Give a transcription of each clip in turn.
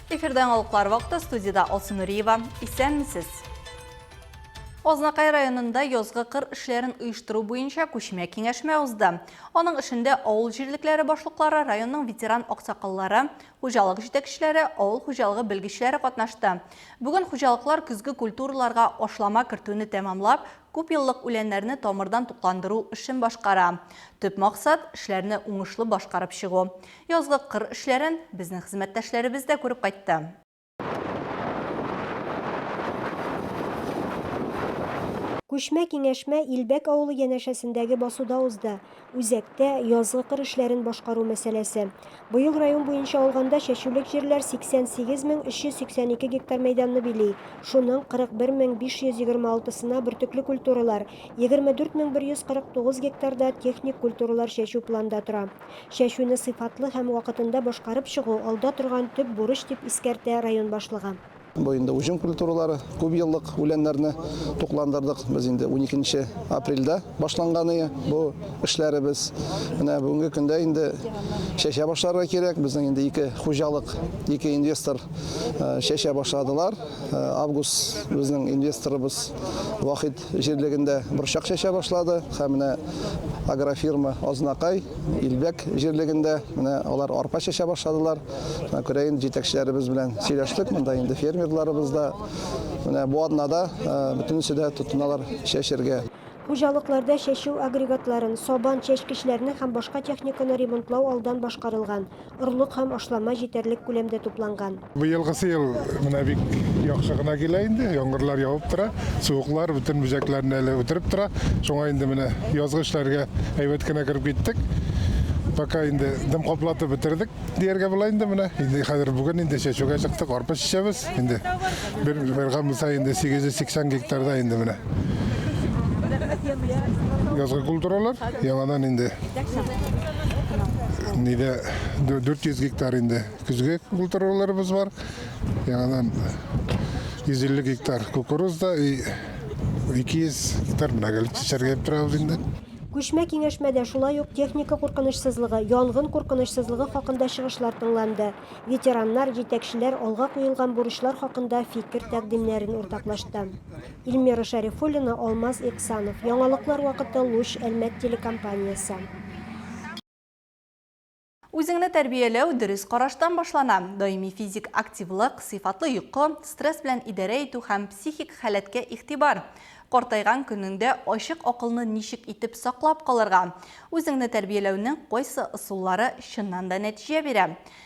Эфирда яңалыклар вакыты, студиядә Алсу Нуриева. Исәнмесез! Азнакай районында язгы кыр эшләрен оештыру буенча күчмә киңәшмә узды. Аның эшендә авыл җирлекләре башлыклары, районның ветеран аксакаллары, хуҗалык җитәкчеләре, авыл хуҗалыгы белгечләре катнашты. Бүген хуҗалыклар көзге культураларга ашлама кертүне тәмамлап, күпьеллык үләннәрне тамырдан тукландыру эшен башкара. Төп максат, эшләрне уңышлы башкарып чыгу. Язгы кыр эшләрен безнең хезмәттәшләребез дә күреп кайтты. Күчмә киңәшмә Илбәк авылы янәшәсендәге басуда узды. Үзәктә язгы кыр эшләрен башкару мәсьәләсе. Быел район буенча алганда чәчүлек җирләр 88 мең 382 гектар мәйданны били. Шуның 41 мең 526-сына бөртекле культуралар, 24 мең 149 гектарда техник культуралар чәчү планда тора. Чәчүне сыйфатлы һәм вакытында башкарып чыгу, алда торган төп бурыч, дип искәртә район башлыгы. Бу инде уҗым культуралары, күпьеллык үләннәрне тукландырдык без инде уникенче апрельдә башланганыя бу эшләребез. Менә бүгенге көндә инде чәчә башларга кирәк. Безнең инде ике хуҗалык, ике инвестор чәчә башладылар. Август безнең инвесторыбыз Вахит җирлегендә борчак чәчә башлады һәм менә агрофирма Азнакай, Илбәк җирлегендә менә алар арпа чәчә башладылар. Менә күрәен җитәкчеләребез белән сөйләштек, монда инде фермерларыбыз да менә бу атнада бөтенесе дә тотыналар чәчергә. Хуҗалыкларда чәчү агрегатларын, сабан, чәчкечләрне һәм башка техниканы ремонтлау алдан башкарылган. орлык һәм ашлама җитәрлек күләмдә тупланган. Быелгысы ел менә бик яхшы гына килә инде. Яңгырлар явып тора, суыклар бөтен бөҗәкләрне әле үтереп тора. Шуңа инде менә язгы эшләргә әйбәт кенә кереп киттек. Пока инде дым каплатып бетердек дияргә була инде менә. Инде хәзер бүген инде чәчүгә чыктык, арпа чәчәбез. Инде бер бер гамса инде 880 гектарда инде менә язгы культуралар, яңадан инде Нидә 400 гектар инде көзге культураларыбыз бар. Яңадан 150 гектар кукуруз да и 200 гектар мәгәл чәчәргә торабыз инде. Күчмә киңәшмәдә шулай ук техника куркынычсызлыгы, янгын куркынычсызлыгы хакында чыгышлар тыңланды. Ветераннар, җитәкчеләр алга куелган бурычлар хакында фикер-тәкъдимнәрен уртаклашты. Ильмира Шәрифуллина, Алмаз Эксанов. Яңалыклар вакыты Луч Әлмәт телекомпаниясе. Үзеңне тәрбияләү дөрес караштан башлана. Даими физик активлык, сыйфатлы йокы, стресс белән идарә итү һәм психик халәткә игътибар. Картайган көнеңдә ачык акылны ничек итеп саклап калырга? Үзеңне тәрбияләүнең кайсы ысуллары чыннан да нәтиҗә бирә?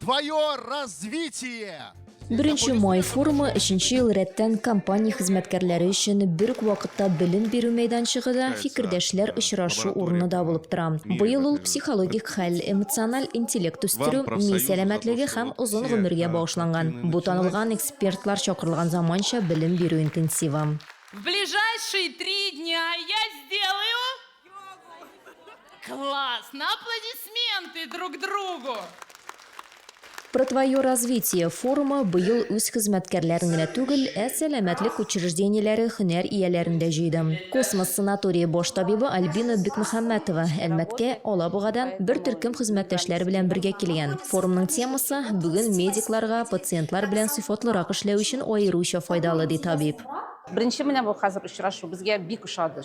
Твое развитие! Беренче май форумы өченче ел рәттән компания хезмәткәрләре өчен бер үк вакытта белем бирү мәйданчыгы да, фикердәшләр очрашу урыны да булып тора. Быел ул психологик хәл, эмоциональ интеллект үстерү, ми сәламәтлеге һәм озын гомергә багышланган. Бу танылган экспертлар чакырылган заманча белем бирү интенсивы. В ближайшие три дня я сделаю Классно! Аплодисменты друг другу! Про твое развитие форумы быел үз хезмәткәрләрен генә түгел, ә сәламәтлек учреждениеләре һөнәр ияләрен дә җыйды. Космос санатории баш табибы Альбина Бекмөхәммәтова Әлмәткә, Алабугадан бер төркем хезмәттәшләре белән бергә килгән. Форумның темасы, Бүген медикларга пациентлар белән сыйфатлырак эшләү өчен аеруча файдалы, ди табиб. Беренче менә бу хәзер очрашу безгә бик ошады.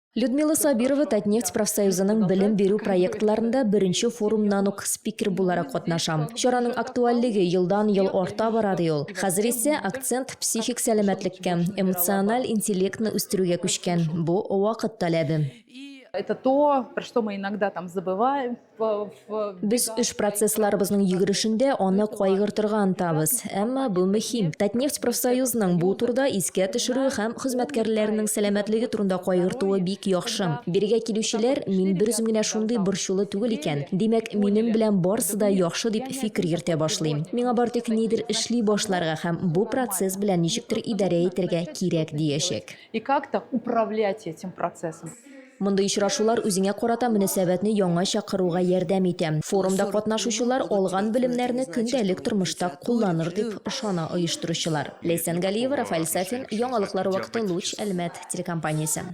Людмила Сабирова Татнефть профсоюзының белем бирү проектларында беренче форумнан ук спикер буларак катнаша. Чараның актуальлеге елдан-ел арта бара ди ул. Хәзер исә акцент психик сәламәтлеккә, эмоциональ интеллектны үстерүгә күчкән. Бу вакыт таләбе. Это то, про что мы иногда там забываем. Без эш процессларыбызның йөгерешендә аны кайгыртырга ынтабыз. Әмма бу мөһим. Татнефть профсоюзының бу турда искә төшерү һәм хезмәткәрләренең сәламәтлеге турында кайгыртуы бик яхшы. Бирегә килүчеләр, мин берүзем генә шундый борчулы түгел икән, димәк, минем белән барсы да яхшы дип фикер йөртә башлый. Миңа бары тик нидер эшли башларга һәм бу процесс белән ничектер идарә итәргә кирәк диячәк. И как-то управлять этим процессом. Мондый очрашулар үзеңә карата мөнәсәбәтне яңача кыруга ярдәм итә. Форумда катнашучылар алган белемнәрне көндәлек тормышта кулланыр, дип ышана оештыручылар. Ләйсән Галиева, Рафаэль Сафин, Яңалыклар вакыты, Луч, Әлмәт телекомпаниясе.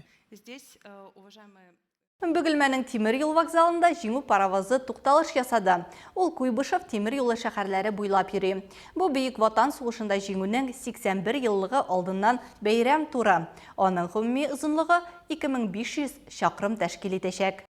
Бөгелмәнең тимер юл вокзалында Җиңү паровозы тукталыш ясады. Ул Куйбышев тимер юлы шәһәрләре буйлап йөри. Бу Бөек Ватан сугышында Җиңүнең 81 еллыгы алдыннан бәйрәм туры. Аның гомуми озынлыгы, 2500 чакрым тәшкил итәчәк.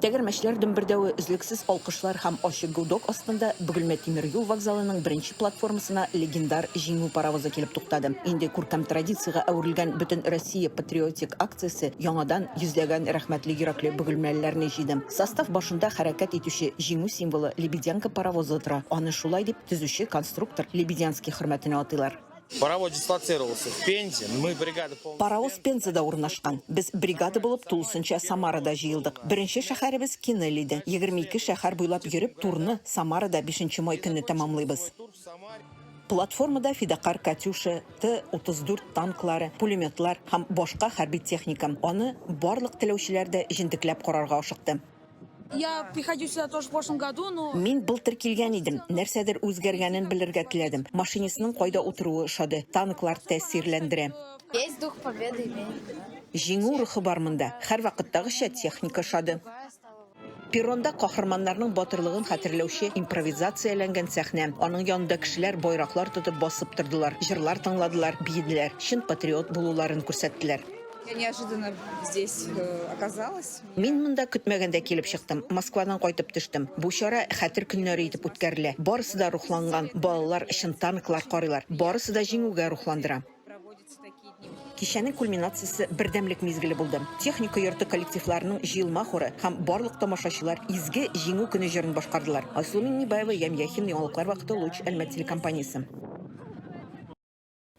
Тәгәрмәчләр дөмбердәве, өзлексез алкышлар һәм ачы гудок астында Бөгелмә тимер юл вокзалының беренче платформасына легендар Җиңү паровозы килеп туктады. Инде күркәм традициягә әверелгән Бөтенроссия патриотик акциясе яңадан Йөзләгән рәхмәтле йөрәкле бөгелмәлеләрне җыйдым. Состав башында хәрәкәт итүче Җиңү символы Лебедянка паровозы тора, аны шулай дип төзүче конструктор Лебедянский хөрмәтенә атыйлар. Паровоз дислоцировался в Пензе, мы бригада полностью. Паровоз Пензада урнашкан. Без бригада булып тулысынча Самарада җыелдык. Беренче шәһәребез Кинель иде. Егерме ике шәһәр буйлап йөреп, турны Самарада бишенче май көнне тәмамлыйбыз. Платформада фидакарь Катюша, Т-34 танклары, пулеметлар һәм башка хәрби техника. Аны барлык теләүчеләр дә җентекләп карарга ашыкты. Мин былтыр килгән идем, нәрсәдер үзгәргәнен белергә теләдем. Машинистның кайда утыруы ошады, танклар тәэсирләндерә. Җиңү рухы бар монда. Һәрвакыттагыча техника ошады. Перронда каһарманнарның батырлыгын хәтерләүче импровизацияләнгән сәхнә. Аның янында кешеләр байраклар тотып басып тордылар, җырлар тыңладылар, биеделәр, чын патриот булуларын күрсәттеләр. Я неожиданно здесь оказалась. Мин монда көтмәгәндә килеп чыктым. Москвадан кайтып төштем. Бу чара Хәтер көннәре итеп үткәрелә. Барысы да рухланган, балалар чын танклар карыйлар. Барысы да җиңүгә рухландыра. Кичәнең кульминациясе бердәмлек мизгеле булды. Техника йорты коллективларының җыелма хоры һәм барлык тамашачылар Изге Җиңү көне җырын башкардылар. Айсылу Миңнебаева, Ямь Яхин, яңалыклар вакыты, Луч, Әлмәт телекомпаниясе.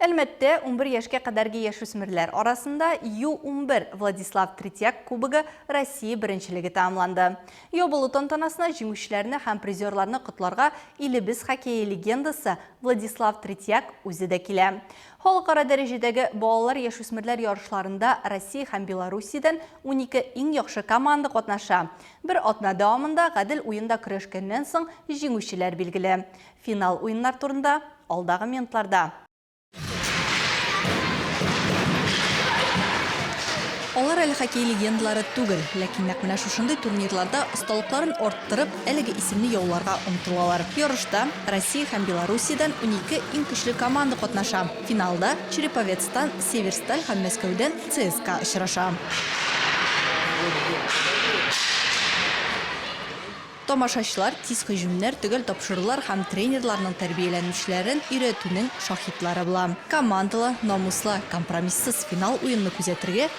Әлмәттә унбер яшькә кадәрге яшүсмерләр арасында Ю-унбер Владислав Третьяк кубогы Россия беренчелеге тәмамланды. Ябылу тантанасына җиңүчеләрне һәм призерларны котларга илебез хоккее легендасы Владислав Третьяк үзе дә килә. Халыкара дәрәҗәдәге балалар-яшүсмерләр ярышларында Россия һәм Белоруссиядән унике иң яхшы команда катнаша. Бер атна дәвамында гадел уенда көрәшкәннән соң, җиңүчеләр билгеле. Финал уеннар турында, алдагы минутларда. Алар әле хоккей легендалары түгел, ләкин нәкъ менә шушындый турнирларда осталыкларын арттырып, Әлеге исемне яуларга омтылалар. Ярышта Россия һәм Белоруссиядән унике иң көчле команда катнаша. Финалда Череповецтан Северсталь һәм Мәскәүдән ЦСКА очраша. Тамашачылар тиз һөҗүмнәр, төгәл тапшырулар һәм тренерларның тәрбияләнүчеләрен өйрәтүнең шаһитлары була. Командалы, намуслы, компромиссыз финал уенны күзәтергә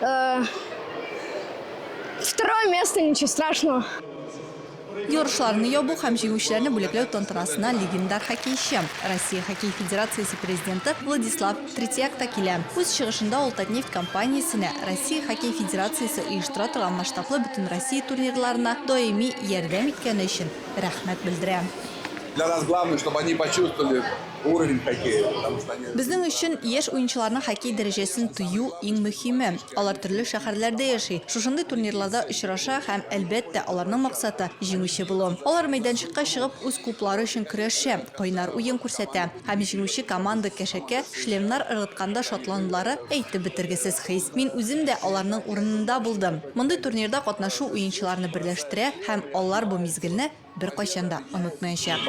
Э, второе место, ничего страшного. Ярышларны ябу һәм җиңүчеләрне бүләкләү тантанасына легендар хоккейчы, Россия хоккей федерациясе президенты Владислав Третьяк та килә. Үз чыгышында ул Татнефть компаниясенә Россия хоккей федерациясе оештыра торган масштаблы бөтенроссия турнирларына даими ярдәм иткәне өчен рәхмәт белдерә. Для нас главное, чтобы они почувствовали Безнең өчен яшь уенчыларның хоккей дәрәҗәсен тою иң мөһиме. Алар төрле шәһәрләрдә яши, шушындый турнирларда очраша һәм, әлбәттә, аларның максаты, җиңүче булу. Алар мәйданчыкка чыгып үз клублары өчен көрәшә, кайнар уен күрсәтә. Һәм җиңүче команда кәшәкә шлемнар ыргытканда шатланулары, әйтеп бетергесез хис. Мин үзем дә аларның урынында булдым. Мондый турнирда катнашу уенчыларны берләштерә һәм алар бу мизгелне, Беркайчан да онытмаячак.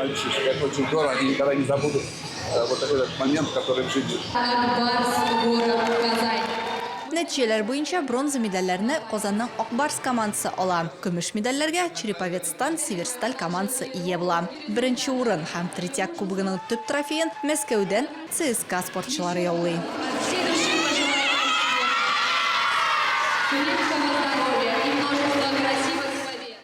Нәтиҗәләр буенча бронза медальләрне Казанның Ак Барс командасы ала, көмеш медальләргә Череповецтан Северсталь командасы ия була. Беренче урын һәм Третьяк кубогының төп трофеен Мәскәүдән ЦСКА спортчылары яулый.